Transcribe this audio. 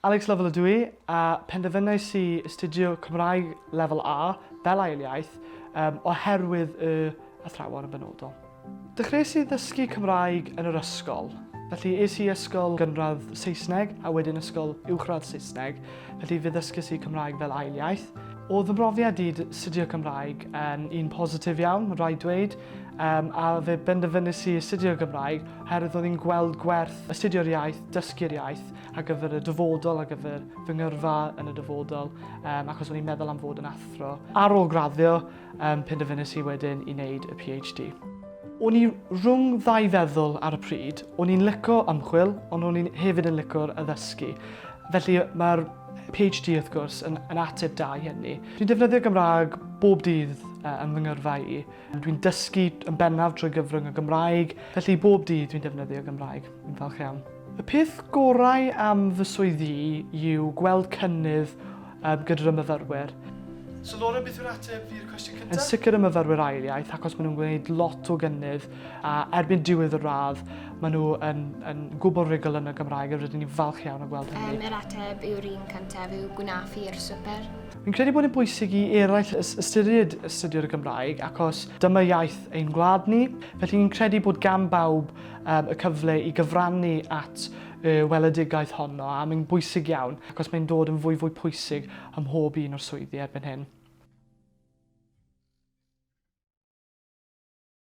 Alex Lovell ydw i, a phenderfynais i astudio Cymraeg Lefel A fel ail iaith oherwydd y athrawon yn benodol. Dechreuais i ddysgu Cymraeg yn yr ysgol, felly es i ysgol gynradd Saesneg a wedyn ysgol uwchradd Saesneg, felly fe ddysges i Cymraeg fel ail iaith. O'dd fy mhrofiad i 'd astudio Cymraeg yn un positif iawn, ma' raid dweud, yym a fe benderfynais i astudio Gymraeg oherwydd o'n i'n gweld gwerth astudio'r iaith, dysgu'r iaith, ar gyfer y dyfodol, ar gyfer fy ngyrfa yn y dyfodol, um, achos o'n i'n meddwl am fod yn athro. Ar ôl graddio, um, penderfynus i wedyn i wneud y PhD. O'n i rhwng ddau feddwl ar y pryd. O'n i'n lyco ymchwil, ond o'n i'n hefyd yn lyco'r addysgu. Felly mae'r PhD wrth gwrs yn, yn ateb da i hynny. Dwi'n defnyddio Gymraeg bob dydd uh, yn fy ngyrfa i. Dwi'n dysgu yn bennaf trwy gyfrwng y Gymraeg, felly bob dydd dwi'n defnyddio Gymraeg. Yn falch iawn. Y peth gorau am fy swydd i yw gweld cynnydd gyda fy myfyrwyr. So Laura, beth yw'r ateb i'r cwestiwn cyntaf? Yn sicr y myfyrwyr ail iaith achos maen nhw'n gwneud lot o gynnydd a erbyn diwedd y radd maen nhw yn, yn gwbl rigol yn y Gymraeg a rydyn ni'n falch iawn o gweld hynny. Um, yr ateb yw'r un cyntaf yw gwnaf i'r swper. Fi'n credu bod yn bwysig i eraill ystyried astudio'r Gymraeg acos dyma iaith ein gwlad ni, felly ni'n credu bod gan bawb um, y cyfle i gyfrannu at y weledigaeth honno a mae'n bwysig iawn ac os mae'n dod yn fwy fwy pwysig ym mhob un o'r swyddi erbyn hyn.